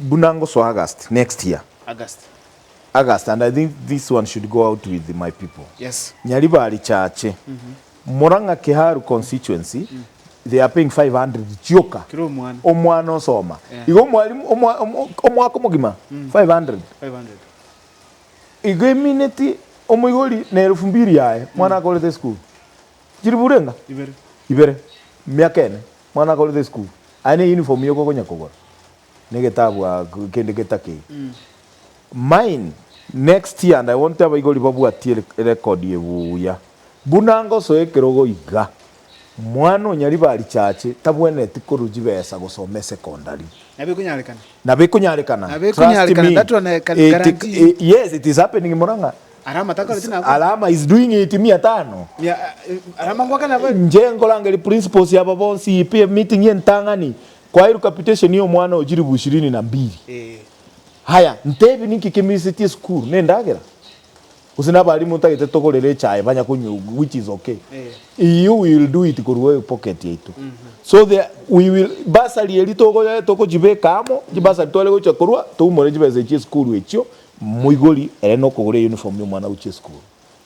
Buna ngosoa August next year. August. August and I think this one should go out with my people. Yes. Nyaribari church. Murang'a Kiharu constituency they are paying 500 chioka. Kera omwana. Omwana osoma. Yeah. Igo mwalimu omwa omwaka omogima 500. 500. Igo emineti omoigori ne elufu mbiri yaye mwana akorete esukuru. Chiriburu enga? Ibere. Ibere. Miaka ene mwana akorete esukuru. Aye ne uniform yoka okonya kogora. negetabu aa kende getake mine next year and I want abaigori babwatie record ebuya buna ngosoa ekerogo iga mwana onyariba arichache tabweneti korwa chibesa gosoma esecondary Nabo ekonyarekana. nabo ekonyarekana Nabo trust ekonyarekana, me that one I can it, guarantee you. yes it is happening in Murang'a Ara amata akoreti nabo. alama is doing it mia tano Mia- eh, Ara amangwaka nabo. nje nkorangeria principles aba bonsi ipi meeting entang'ani Kwaeru capitation ya omwana oyo chiribu ishirini na mbili. Haya, ntebie ninki kemisetie esukuru? Nendagera? Gose nabalimu ntagete togorere echae banya konywa egu, which is ok. You will do it korwa epocket yaito. So the, we will, bursary eria togoye, togochibeka amo, chibursary tware gocha korwa, toumore chibesa echio chie esukuru echio, moigori ere nokogora euniform ya omwana ogochia esukuru.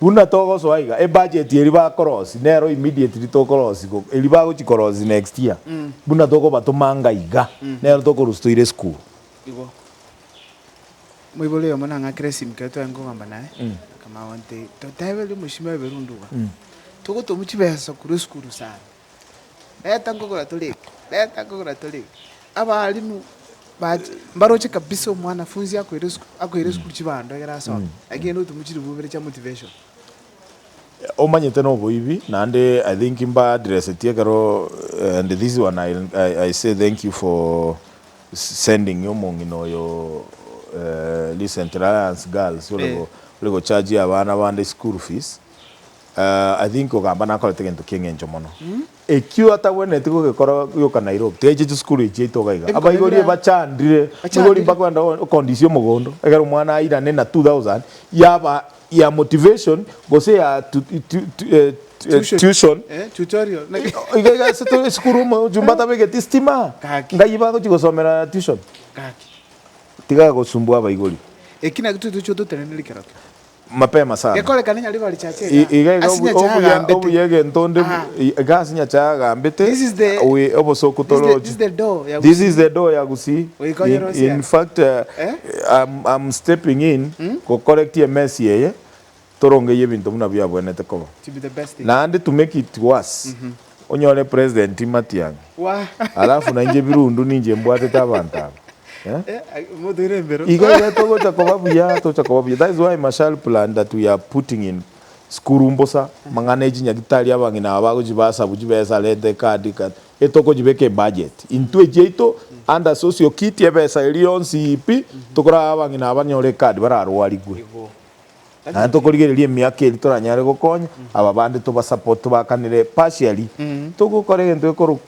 Buna togosoa iga, ebudget eri ba cross nero immediately to cross igo, eri bagochi cross next year, buna tokobatoma anga iga, nero tokorusia toire esukuru. Igo moibori oyomo nang'akera esimi kero tware nkogamba naye, akamanya gontebia, toteberie omochie bwa eberundu iga, togotomu chibesa korwa esukuru sana. Reta nkogora torege, reta nkogora torege. Abalimu bache mbaroche kabisa omwanafunzi akoire esukuru, akoire esukuru chibando ekero asomete, lakini rende otumwa chiribubere chia motivation. Omanyete na oboibi naende I think mba addressetie ekero and this one I I I say thank you for sending omong'ina oyo recently Alliance Girls ore go ore go charge abana bande school fees I think ogamba nakorete gento ki'engencho mono. Ekio atagwenereti gogekora gioka Nairobi, tiga aiche chisukuru echi yaito iga iga. Abaibori bachandire, migori mpaka kwenda gokondisia omogondo, egere omwana airane na two thousand yaba ya motivation gose ya tuition, iga iga ase tore esukuru omochumba atabegeti estima, ngai bagochia gosomera tuition? Tiga gosumbua abaibori. Eki nakio totoche ototeneneri kera kera. mapema sana. Gekorekane nyare bare chacha I- ega Iga iga ase obu- nyacha obuya agambete. obuya egento onde bu- Ah. i- iga ase nyacha agambete This is the- we obosoku this is the- toroche this is the door ya this is the door ya gusii Oikonyera in, osiaka. in fact uh, Eh? I'm, I'm stepping in go correct ye mess yeye torongeye ebinto buna biabwenete koba to be the best thing. naende to make it worse Onyore president Matiang'i alafu nainche birundu ninche mbwatete abanto aba eh? Iga iga togocha koba buya togocha koba buya that is why Marshall plan that we are putting in sukuru mbosa amang'ana ya chinyagitari abang'ina aba bagochi basabu chibesa rent a car di car etokonyibeka in budget intwe chiaito under socio kiti ebesa eria yonsi pi tokoraha abang'ina aba banyore ecard bararwarigwe. Naende tokorigereria emiaka eria toranyare gokonya aba bande tobasupport tobakanere partially. Togokora egento gekorwa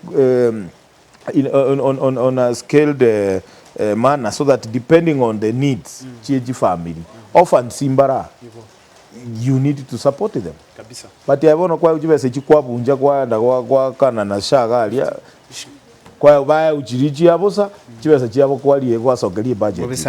in on on a scaled manner so that depending on the needs chie chifamiri orphans mbara you need to support them but aye bono kwayeu chibesa echio kwabuncha kwaenda goakana na sha iga aria kwayeu bayeu chiria chia bosa chibesa chiabo kwaria kwasokeria ebudget.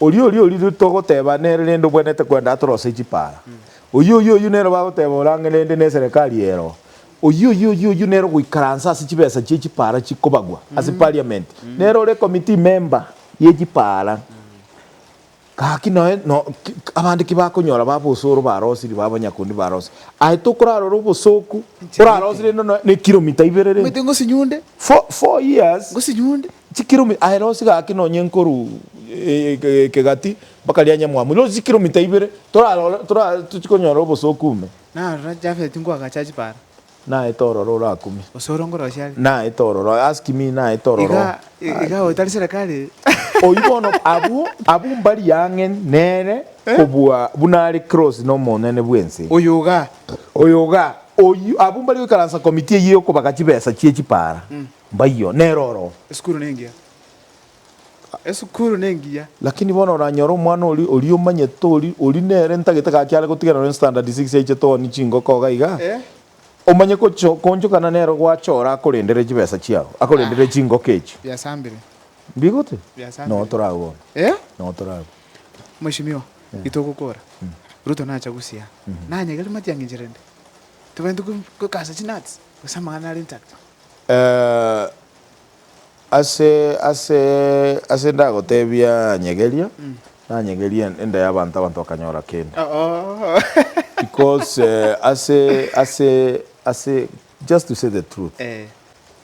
Oria oria oria togoteba nere rende obwenerete kwenda atorose chipara. Oyi oyi oyi nere bagoteba ore ang'e rende neserekari ero. Oyi oyi oyi oyi nere ogoikaransa ase chibesa chie chipara chikobagwa ase parliament. Nere ore committee member ye chipara. Gaki noe no abande ki bakonyora baba osoro barosirie baba abanyakundi barosirie. Aye tokorarora obosoku orarosirie rende noe ne kilometer ibere rende. Omanyete ngosinyunde. Four four years. Ngosinyunde. Chikiromita, aye rosie gaki nonye nkoru kegati mpaka ria nyamwamu, rosie chikiromita ibere, torarore, tora, tochi konyora obosooku ime. Narora Jafeti ngoagacha chibara. Naete ororo orakume. Gose ore ngorosia are. Naete ororo, ask me, naete ororo. Iga, iga oyo tari serekari. Oyio bono, abwo, abwo mbari ang'e nere kobua buna are close nomonene bw'ense. Oyo iga. Oyo iga. Oyio, abwo mbari goikaransa committee eyio yokobaga chibesa chie chipara. Mbayio, nere oro. Esukuru nengiya. Esukuru nengiya. Lakini bono oranyore omwana oria, oria omanyete, ori, ori nere ntagete gaki are gotiganera ne standard six aichete one chingoko iga iga, omanye gocho, koonchokana nere gwacha ore akorendere chibesa chiao, akorendere chingoko echi. Biasambire. Mbigote? Biasambire. Nonya tore agwo bono. Eh? Nonya tore agwo. Mweshimiwa, gitogokora. Ruto nacha gusia. Nanyegere matiang'i ncherende. Tobende go, go kasa chinuts. Gose amang'ana are intact. Ase, ase, ase ndagotebia nyegeria, nanyegeria enda y'abanto abanto bakanyora kende. Because ase, ase, ase just to say the truth,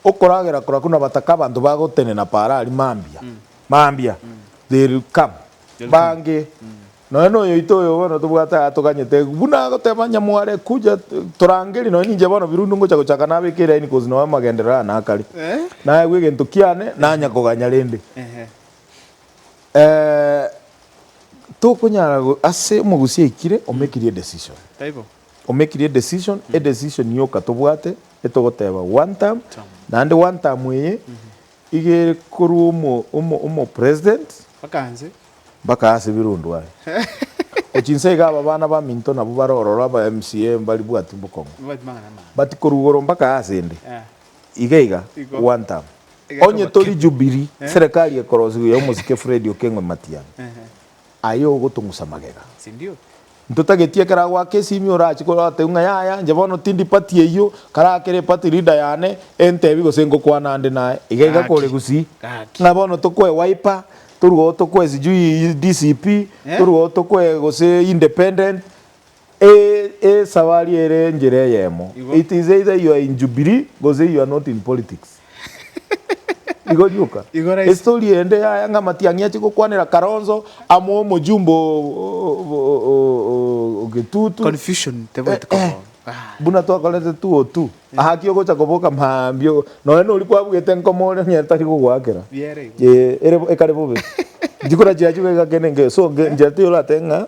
okoragera kora korwa nabataka abanto bagotenena paara aria mambia, mambia, they will come, bange Nonya noyoito oyo bono tobwate aa toganyete buna agoteba onye mware kuja torangerie nonya ninche bono birundu ngocha gochaka nabeke eraini cause noe amagenderero aa nakare naegwe egento kiane nanya koganya rende tokonyara ase omogusi aikire omekirie edecision omekirie edecision edecision yoka tobwate etogoteba one term naende one term eye Igere korwa omopresident. Mpaka inse. Mpaka ase birundu aye. Gochia inse iga aba abana baminto nabwo bare ororo aba MCA mbaribwati bokong'u. Mbabwati mang'ana amang'ana. But korwa igoro mpaka ase inde. Iga iga. Igo. One term. Onye tori Jubilee, serekari ekorosiwa ya omosike Fred Okeng'u Matiang'i. aye ogotong'usa magega, sindio? Ntotageti ekero agoaka esimi orache kore otebi ng'a yaya inche bono tindi party eyio, kare akere party leader yane entebi gose ngokwana ande naye, iga iga kore Gaki, gusii. gaki. Ng'a bono tokwe Wiper, torue oo tokwe sijui DCP, torue oo tokwe gose independent, Ee, esawari ere enchera eyemo. It is either you are in Jubilee gose you are not in politics. Igo rioka. Estory ende ya Ayanga Matiang'i ache gokwanera Kalonzo amo omojumbe o Getutu. Confusion tebwati koboa. Buna twakorete two o two. Haki ogocha koboka maambia nonya nori kwabugete nkoma oria nonya tari kogoakera. Ee, ere ekare bobe. Nchikora chiachuga egakena engeyo. So, nchera tiyo oratebe ng'a.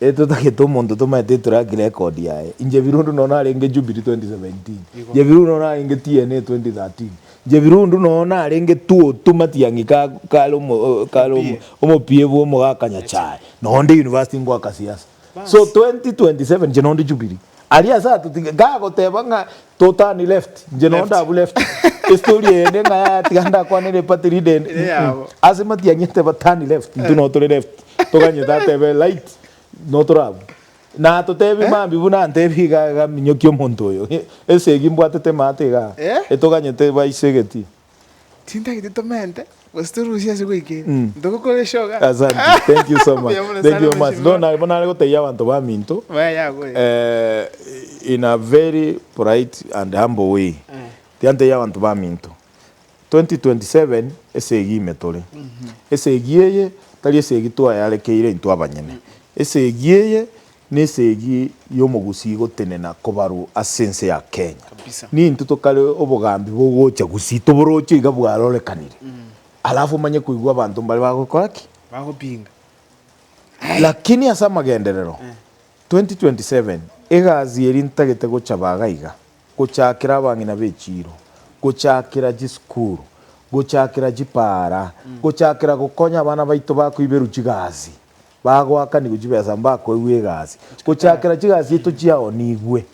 Etotagete omonto tomaete etrack record yaye. Inche birundu nonya narenge Jubilee 2017. Igo. Inche birundu nonya narenge TNA 2013. Inche birundu nonya narenge Tuotu Matiang'i ka kare omo o- kare omo- Omopie. omopie bwa omogaka Nyachae. Nonya onde university ngoaka siasa. Bas. So 2027 inche nonde Jubilee. Aria ase atotige gagoteba ng'a to turn left nche no ndabu left estory eyende ng'a yaya tiga ndakwane repati ride ende Eyabo. Mm-mm. ase matiang'i eteba turn left intwe no tore left toganyete atebe right no tore abwo na atotebie mambi buna antebie iga iga minyokia omonto oyo esegi mbwatete emate igaa Eh? etoganyete baise egetii. Tintagete tomente, gose torusie ase goika ere, ntogokora esioga. Asante. Thank you so much. Mbuya mono Thank sana, you very much. mweshimiwa. Bono na- bono nare gotebia abanto baminto, Maya yagore. eh, in a very polite and humble way. Eh. Tiantebia abanto baminto, 2027 esegi ime tore. Esegi eye tari esegi twayarekeire intwe abanyene. Esegi eye Nesegi y'omogusii gotenena kobaru ase ense ya Kenya. Ninto tokare obogambi bogocha gusii toboroche iga bwarorekanire. Alafu omanye koigwa abanto mbare bagokora ki? Bagopinga. Lakini ase amagenderero, 2027, egasi eria ntagete gochaba iga iga, gochakera abang'ina b'echiiro, gochakera chisukuru, gochakera chipaara, gochakera gokonya abana baito bakoiberwa chigasi. Bagoakanigwe chibesa mbakoigwa egasi gochakera chigasi eito chiao nigwe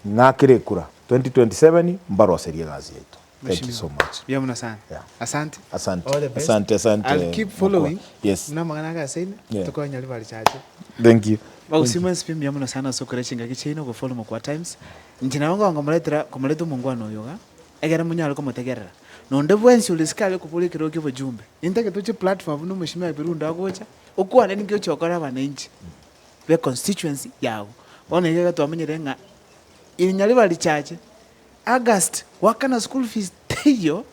ng'akire ekura 2027 mbaroserie egasi yaito thank you so much Mbuya muno sana. Yeah. Asante. Asante. All the best. Asante, asante, I'll keep mkubwa. following. Yes. Buna amang'ana ake ase ine. Yeah. Tokonye ribaari chache. thank you Bagusima ense pi mbuya muno sana ase okora chingaki chiaino ogofollow Mokwa Times. Inche nabo ngonkomoretera komoreta omongwana oyo iga. Ekero monyare komotegerera nonde bwensi ore sikare okobora ekero okia obojumbe. Intake toche platform buna omosimi wa Birundo agocha okwane ninki ochia gokora abananchi be constituency yago. Bono iga iga twamenyire ng'a irinya riba richache August goakana school fees teiyo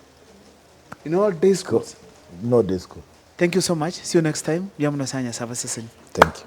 in all day schools. In all day school. Thank you so much. See you next time. Mbuya mono sana Nyasae abaseseni. Thank you.